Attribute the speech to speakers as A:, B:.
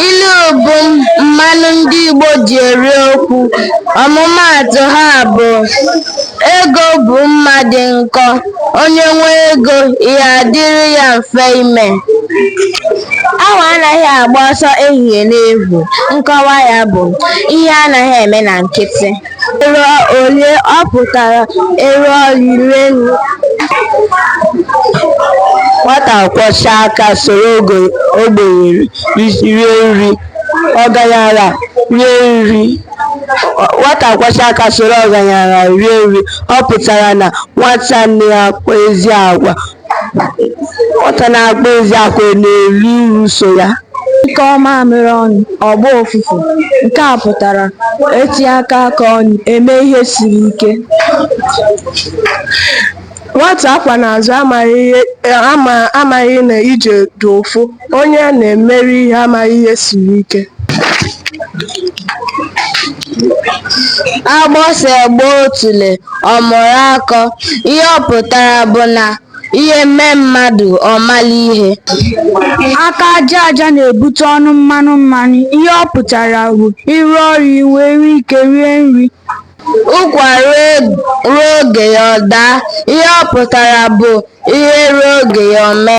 A: Ilu bụ mmanụ ndị Igbo ji eri okwu. Ọmụmaatụ ha bụ, Ego bụ mma dị nkọ, onye nwee ego, ihe adịrị ya mfe ime. Awọ anaghị agba ọsọ ehihie n'efu. Nkọwa ya bụ, Ihe anaghị eme na nkịtị. Ero ole ọ pụtara ero ọrịrị elu? Nwata kwọchaa aka soro ogbenye rie nri, ọgaranya rie nri, ọ pụtara na nwata na-akpa ezi agwa Nwata na-akpa ezi agwa na-eri uru so ya. A nyụkọọ mamịrị ọnụ, ọ gbaa ụfụfụ. Nke a pụtara e tinyekọọ aka ọnụ, e mee ihe siri ike. Nwata a kwọ n'azụ amaghị na ije dị ụfụ. Onye a na-emere ihe amaghị ihe siri ike. Agbụsị gbaa otule, ọ mụrụ akọ. Ihe ọ pụtara bụ na ihe mee mmadụ, ọ mala ihe. Aka aja aja na-ebute ọnụ mmanụ mmanụ. Ihe ọ pụtara bụ ịrụ ọrụ i wee nwee ike rie nri. Ụkwa ruo oge ya ọ daa, ihe ọ pụtara bụ ihe ruo oge ya ọ mee.